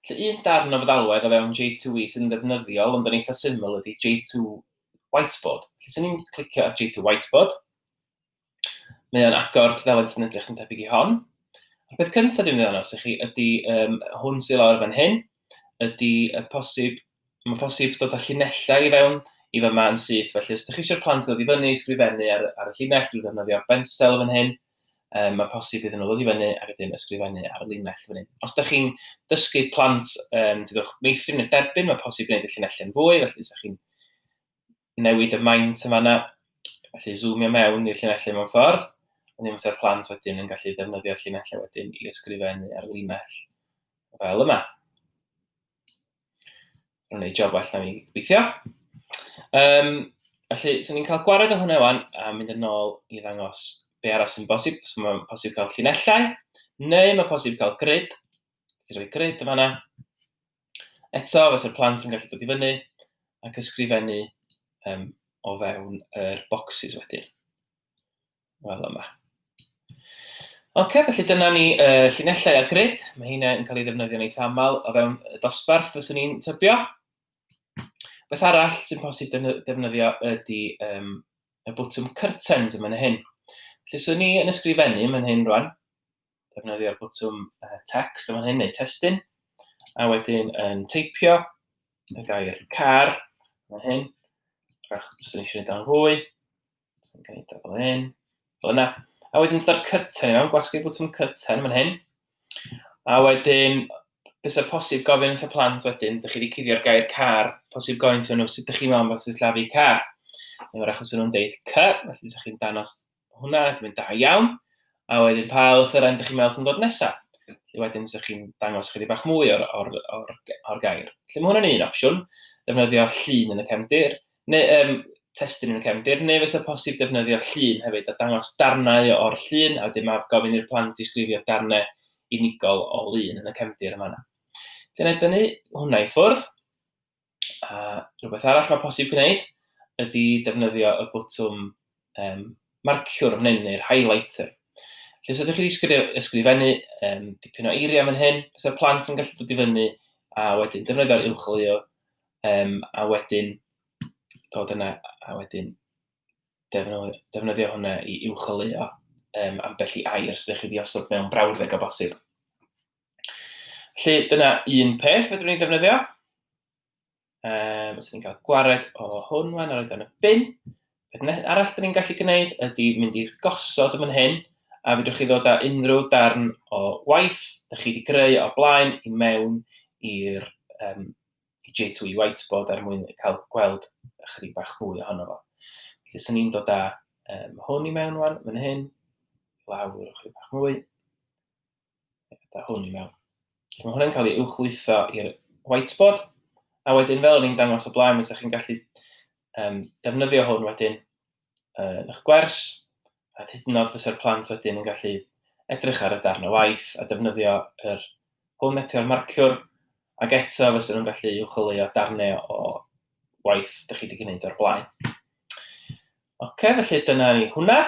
Felly un darn o feddalwedd o fewn J2E sydd yn ddefnyddiol ond yn eitha syml ydy J2 Whiteboard. Felly sy'n ni'n clicio ar J2 Whiteboard, mae o'n agor tudalen sy'n edrych yn tebyg i hon. A'r peth cyntaf dwi'n meddwl i chi ydy um, hwn sy'n lawr fan hyn, ydy y posib, mae posib dod â llinellau i fewn i fy ma'n syth. Felly os ydych chi eisiau'r plant ddod i fyny, sgrifennu ar, ar y llinell, dwi'n ddefnyddio bensel fan hyn, Um, mae posib iddyn nhw ddod i fyny ac wedyn ysgrifennu ar y linell fan hyn. Os ydych chi'n dysgu plant, um, dydwch meithrin y derbyn, mae posib gwneud y llinellau'n fwy, felly ydych chi'n newid y maint yma yna, felly zoomio mewn i'r llinellau mewn ffordd, ond ddim amser plant wedyn yn gallu defnyddio'r llinellau wedyn i ysgrifennu ar y linell fel yma. Rwy'n gwneud job well na fi gweithio. Um, felly, so ni'n cael gwared o hwnna wan a mynd yn ôl i ddangos be arall sy'n bosib. So mae'n posib cael llinellau, neu mae posib cael grid. Ti'n rhoi grid yma na. Eto, fes y plant yn gallu dod i fyny ac ysgrifennu um, o fewn yr boxes wedyn. Wel yma. Ok, felly dyna ni uh, llinellau a grid. Mae heina yn cael ei ddefnyddio'n eitha aml o fewn y dosbarth fyswn i'n tybio. Beth arall sy'n posib defnyddio ydy um, y bwtwm curtains yma hyn. Felly swn ni yn ysgrifennu yma hyn rwan, defnyddio'r bwtwm uh, text yma hyn neu testyn, a wedyn yn teipio y gair car yma hyn, rach, swn ni eisiau gwneud o'n fwy, Dwi'n gwneud o fel hyn. Fel yna. A wedyn dyda'r cytsen i mewn, gwasgu bwtwm cytsen fan hyn. A wedyn, bysa posib gofyn wrth y plant wedyn, dych chi wedi cuddio'r gair car, posib gofyn wrth nhw sut dych chi'n meddwl bod sillafu car. Neu mae'r achos nhw'n deud cy, felly ydych chi'n danos hwnna, ac mynd da iawn. A wedyn pa lythyrau dych chi'n meddwl sy'n dod nesaf. Felly wedyn ydych chi'n dangos chydig bach mwy o'r, or, or, or gair. Felly mae hwnna'n un opsiwn, ddefnyddio llun yn y cefndir. neu um, testun yn y cefndir, neu fysa posib defnyddio llun hefyd a dangos darnau o'r llun a wedyn mae gofyn i'r plant i sgrifio darnau unigol o lun yn y cefndir yma. Dyna i dynnu hwnna i ffwrdd. A rhywbeth arall mae posib gwneud ydy defnyddio y bwtwm um, marciwr fan hyn, neu'r highlighter. Felly, os ydych chi wedi ysgrifennu um, dipyn o eiriau fan hyn, bys y plant yn gallu dod i fyny a wedyn defnyddio'r uwchleo um, a wedyn dod yna a wedyn defnyddio hwnna i uwchleo um, ambell i air sydd chi ddiosod mewn brawddeg o bosib. Felly dyna un peth fedrwn ni ddefnyddio. Um, os ni'n cael gwared o hwn wan ar oedden y bin. Beth arall dyn ni'n gallu gwneud ydy mynd i'r gosod yn fan hyn, a fydwch chi ddod â unrhyw darn o waith da chi wedi greu o blaen i mewn i'r um, J2E whiteboard er mwyn cael gweld ychydig bach mwy ohono fo. Felly, os ni'n dod â um, hwn i mewn wan, fan hyn, lawr ychydig bach mwy. Da hwn i mewn. Mae hwnna'n cael ei uwchlwytho i'r whiteboard. A wedyn, fel o'n i'n dangos o blaen, fysa chi'n gallu um, defnyddio hwn wedyn uh, yn eich gwers. A hyd yn oed fysa'r plant wedyn yn gallu edrych ar y darn o waith a defnyddio yr hwn eto ar marciwr. Ac eto fysa nhw'n gallu uwcholeuo darnau o waith da chi wedi gwneud o'r blaen. Ok, felly dyna ni hwnna.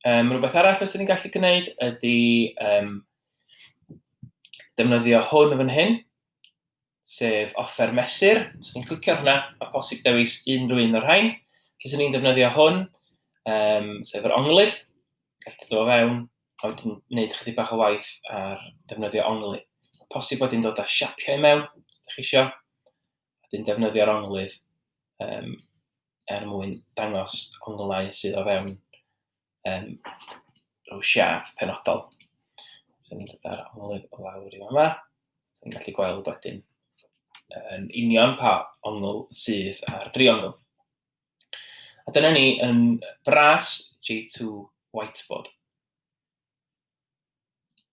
Um, rhywbeth arall fysa ni'n gallu gwneud ydy um, defnyddio hwn fan hyn, sef offer mesur. Os ni'n clicio hwnna, mae posib dewis unrhyw un o'r rhain. Felly, ni'n defnyddio hwn, um, sef yr onglydd, gallu dod o fewn, a wedyn gwneud chydig bach o waith ar defnyddio onglydd. Posib wedyn dod â siapiau mewn, os ydych chi eisiau. wedyn defnyddio'r onglydd um, er mwyn dangos onglau sydd o fewn um, rhyw siap penodol. So ni'n dod ar onglydd o lawr i yma. So ni'n gallu gweld wedyn um, union pa ongl sydd ar driongl. A dyna ni yn bras J2 Whiteboard.